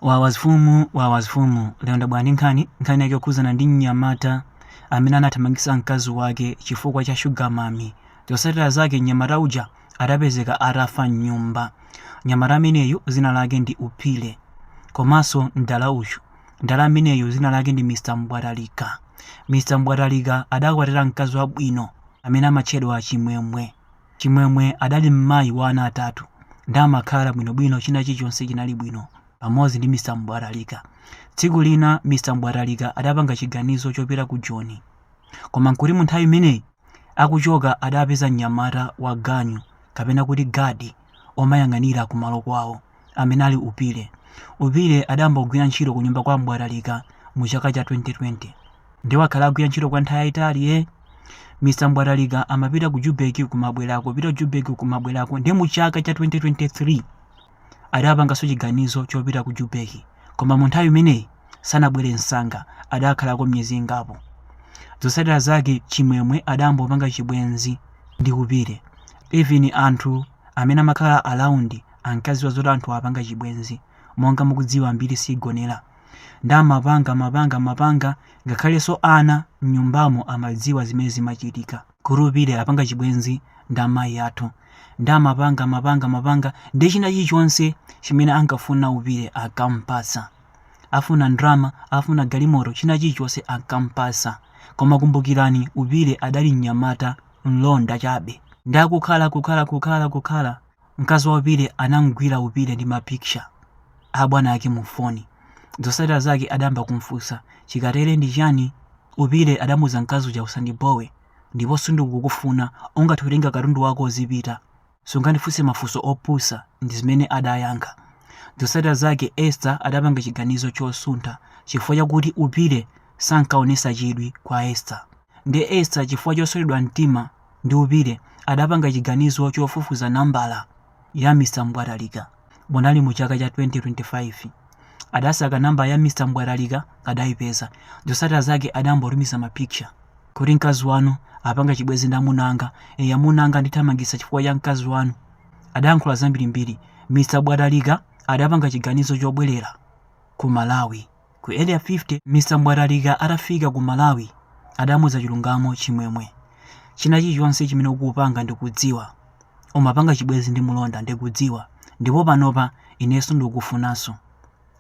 wawas fumu wawas fumu lero ndabwera ndi nkhani nkhani yake yokhuzana ndi mnyamata amene anathamangitsa mkazi wake chifukwa cha shuga mami zotsatira zake mnyamata uja adapezeka atafa mnyumba mnyamata ameneyu zina lake ndi upile komanso mdala uyu mdala ameneyu zina lake ndi mr mbwatalika mr mbwatalika adakwatira mkazi wabwino amene amatchedwa chimwemwe Chimwemwe adali mmayi wa ana atatu nde amakhala bwinobwino china chilichonse chinali bwino pamodzi ndi Mr Mbwatalika. Tsiku lina Mr Mbwatalika adapanga chiganizo chopita ku Joni koma nkuti munthawi imeneyi akuchoka adapeza mnyamata wa ganyu kapena kuti guard omayang'anira kumalo kwawo. amene ali Upile. Upile adayamba kugwira ntchito ku nyumba kwa Mbwatalika mu chaka cha 2020. Ndiye wakhala agwira ntchito kwa nthawi yayitali ye. Mr. Mbwatalika amapita ku Jubeki kumabwerako, pita ku Jubeki kumabwerako. Ndiye mu chaka cha 2023 adapanganso chiganizo chopita ku Jubeki. Koma mu nthawi imeneyi sanabwere msanga, adakhalako miyezi ingapo. Zotsatira zake Chimwemwe adayamba kupanga chibwenzi ndi Upile. Even anthu amene amakhala around Ankaziwa zoti anthuwa apanga chibwenzi. Monga mukudziwa mbiri sigonera. Nde amapanga, amapanga, amapanga, ngakhalenso ana mnyumbamo amadziwa zimene zimachitika kuti Upile apanga chibwenzi ndi amayi athu. Nde amapanga, amapanga, amapanga, nde china chilichonse chimene ankafuna Upile ankamupatsa. Afuna ndalama, afuna galimoto, china chilichonse ankamupatsa. Koma kumbukirani Upile adali mnyamata, mlonda chabe. Nde akukhala, kukhala, kukhala, kukhala, mkazi wa upile anamgwira upile ndi ma picture a bwana ake mu foni zosatira zake adayamba kumfunsa chikatere ndi chani upile adamuza mkazi uja usandibowe ndipo sindikukufuna ungathe kutenga katundu wako uzipita sungandifunse mafunso opusa ndi zimene adayankha zosatira zake esther adapanga chiganizo chosuntha chifukwa chakuti upile sankaonesa chidwi kwa esther nde esther chifukwa chothyoledwa mtima ndi Upile adapanga chiganizo chofufuza nambala ya Mr Mbwatalika munali mu chaka cha 2025 adasaka nambala ya Mr Mbwatalika adaipeza zosatira zake adayamba kutumiza ma picture kuti mkazi wanu apanga chibwezi ndi amuna anga e amuna anga andithamangisa chifukwa cha mkazi wanu adayankhula zambirimbiri Mr Mbwatalika adapanga chiganizo chobwerera ku Malawi Ku Area 50, Mr Mbwatalika atafika ku Malawi adamuza chilungamo Chimwemwe. China chilichonse chimene ukupanga ndikudziwa. Umapanga chibwezi ndi mulonda ndikudziwa ndipo panopa ineso sindikukufunaso.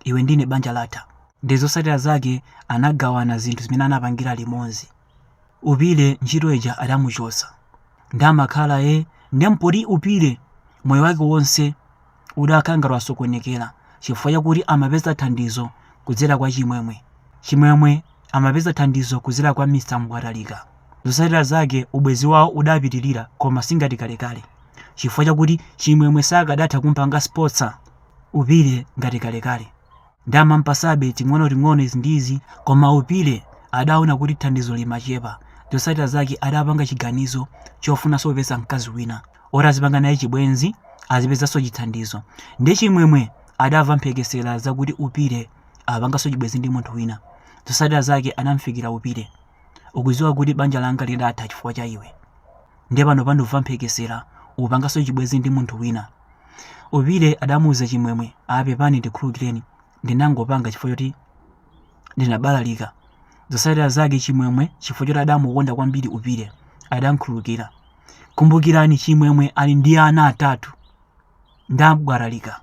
Iwe ndine banja latha. Nde zosatira zake anagawana zinthu zimene anapangira limozi. Upile ntchito ija adamuchotsa. Nde amakhala ee nde mpoti Upile moyo wake wonse udakhala ngati wasokonekera chifukwa chakuti amapeza thandizo kudzera kwa Chimwemwe. Chimwemwe amapeza thandizo kudzera kwa Mr. Mbwatalika. Zotsatira zake ubwenzi wawo udapitirira koma singati kalekale chifukwa chakuti Chimwemwe sakadatha kumpanga sponsor Upile ngati kalekale. ndi amampasabe ting'onoting'ono izi ndi izi koma upile adaona kuti thandizo limachepa zotsatira zake adapanga chiganizo chofunanso kupeza mkazi wina oti azipanga naye chibwenzi azipezanso chithandizo ndi chimwemwe adamva mphekesera zakuti upile apanganso chibwenzi ndi munthu wina zotsatira zake anamfikira upile ukudziwa kuti banja langa lidatha chifukwa cha iwe ndiye panopa ndikumva mphekesera ukupanganso chibwenzi ndi munthu wina upile adamuuza chimwemwe apepani ndikhululukireni ndinangopanga chifukwa choti ndinabalalika zotsatira zake chimwemwe chifukwa choti adamukonda kwambiri upile adamkhululukira kumbukirani chimwemwe ali ndi ana atatu ndi mbwatalika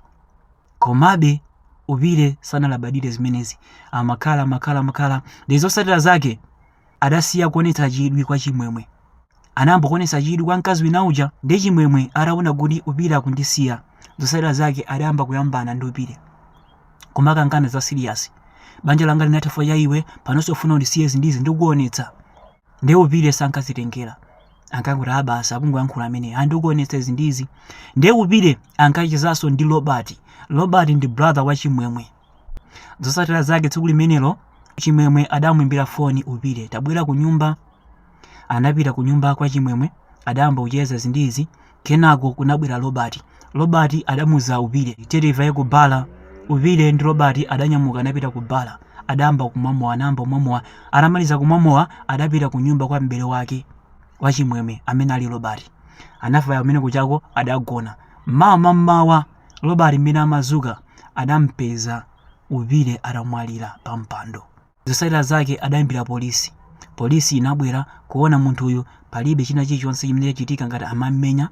komabe upile sanalabadire zimenezi amakhala amakhala amakhala ndi zotsatira zake adasiya kuonetsa chidwi kwa chimwemwe anayamba kuonetsa chidwi kwa mkazi wina uja ndi chimwemwe ataona kuti upile akundisiya zotsatira zake adayamba kuyambana ndi upile kumakangana za serious banja langa linatha chifukwa cha iwe panonso ufuna undisiye zindizi ndikuonetsa ndi upile sankazitengera ankakuti aa basi akungoyankhula amene andikuonetsa zindizi ndi upile ankachezanso ndi robert robert ndi brother wa chimwemwe Zotsatira zake tsiku limenelo Chimwemwe adamuimbira foni Upile, tabwera ku nyumba. Anapita ku nyumba kwa Chimwemwe, adayamba kucheza izi ndi izi. Kenako kunabwera Robert. Robert adamuuza Upile, tiye tivaye ku bala. Upile ndi Robert adanyamuka anapita ku bala. Adayamba kumwa mowa, anayamba kumwa mowa. Atamaliza kumwa mowa, adapita ku nyumba kwa m'bale wake wa Chimwemwe amene ali Robert. Anafika kumene kujako adagona. M'mawa mam'mawa Robert mmene amadzuka adampeza Upile atamwalira pa mpando. Zotsatira zake adaimbira polisi. Polisi inabwera kuona munthuyu palibe china chilichonse chimene chachitika ngati amammenya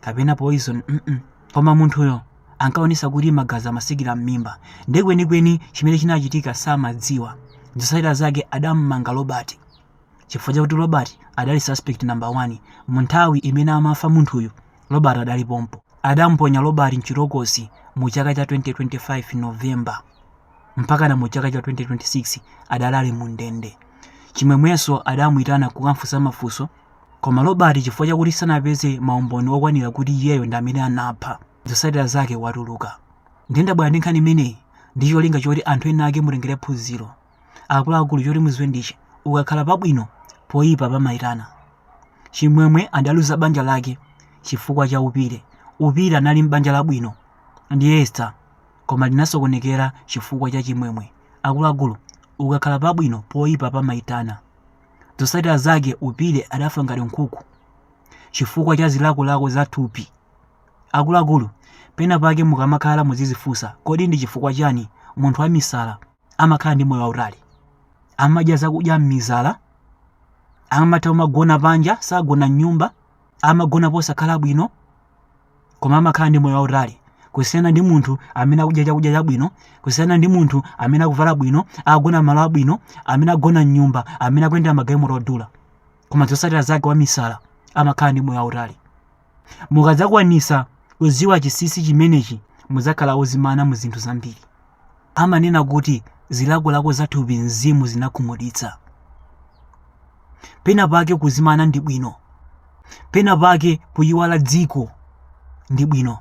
kapena poison mm koma munthuyo ankaonetsa kuti magazi amatsikira mmimba nde kwenikweni chimene chinachitika samadziwa. Zotsatira zake adammanga Robert chifukwa chakuti Robert adali suspect number 1 munthawi imene amafa munthuyu. Robert adali pompo. Adamponya Robert mchitokosi mu chaka cha 2025 November mpakana mu chaka cha 2026 adali ali mu ndende. Chimwemwenso adamuitana kukamfunsa mafunso koma Robert chifukwa chakuti sanapeze maumboni okwanira kuti iyeyo ndi amene anapha, zotsatira zake watuluka. Ndiye ndabwera ndi nkhani imeneyi ndi cholinga choti anthu ena ake mutengere phunziro. Akuluakulu choti muziwe ndichi ukakhala pabwino poyipa pamayitana. Chimwemwe adaluza banja lake chifukwa cha Upile. Upile anali m'banja labwino ndi Esther koma linasokonekera chifukwa cha Chimwemwe. Akuluakulu ukakhala pabwino poyipa pamayitana. Zotsatira zake Upile adafa ngati nkhuku chifukwa cha zilakolako za thupi. Akuluakulu pena pake mukamakhala muzizifunsa kodi ndi chifukwa chani munthu wamisala amakhala ndi moyo wautali amadya zakudya m'mizala amatha kumagona panja sagona m'nyumba amagona posakhala bwino koma amakhala ndi moyo wautali kusiyana ndi munthu amene akudya chakudya chabwino kusiyana ndi munthu amene akuvala bwino akugona malo abwino amene agona m'nyumba amene akuyendera magalimoto odula koma zotsatira zake wamisala amakhala ndi moyo wautali Mukadzakwanitsa kudziwa chinsinsi chimenechi, mudzakhala odzimana mu zinthu zambiri. Amanena kuti zilakolako za thupi mzimu zinakhumudwitsa. Pena pake kudzimana ndi bwino. Pena pake kuyiwala dziko ndi bwino.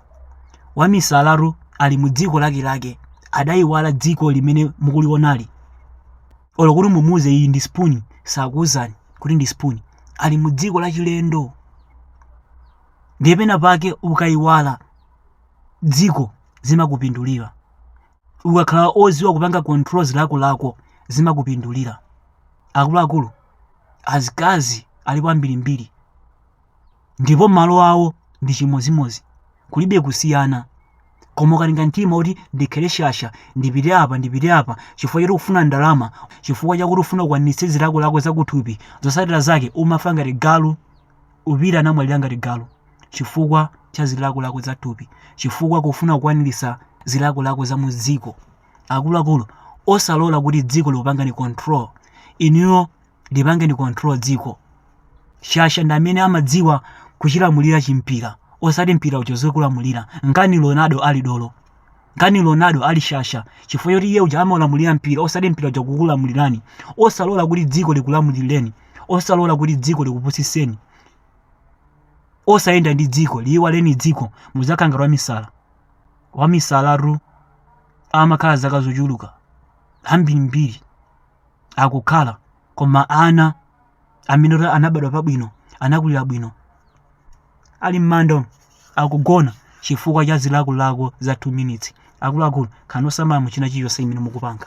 Wamisalatu ali mu dziko lake lake adayiwala dziko limene mukulionali. olo kuti mumuuze iyi ndi spoon sakuuzani kuti ndi spoon ali mu dziko lachilendo ndiye pena pake ukaiwala dziko zimakupindulira ukakhala oziwa kupanga control zilakolako zimakupindulira akuluakulu azikazi alipo ambirimbiri ndipo malo awo ndi chimodzimodzi kulibe kusiyana koma ukatenga mtima kuti ndikhale shasha ndipite apa ndipite apa chifukwa choti ukufuna ndalama chifukwa chakuti ufuna kukwanirisa zilakolako zakuthupi zotsatira zake umafa ngati galu Upile anamwalira ngati galu chifukwa cha zilakolako za thupi chifukwa kufuna kukwanirisa zilakolako za mu dziko akuluakulu osalola kuti dziko likupangani control inuyo lipangeni control dziko shasha ndi amene amadziwa kuchilamulira chimpira osati mpira uja uzikulamulira nkani ronaldo ali dolo nkani ronaldo ali shasha chifukwa choti iye uja amalamulira mpira osati mpira uja kukulamulirani osalola kuti dziko likulamulireni osalola kuti dziko likupusiseni osayenda ndi dziko liyiwaleni dziko mudzakhala ngati wamisala wamisalatu amakhala zaka zochuluka zambirimbiri akukhala koma ana amene kuti anabadwa pabwino anakulira bwino ali m'manda akugona chifukwa cha zilakolako za 2 minutes akuluakulu khalani osamala muchina chilichonse chimene mukupanga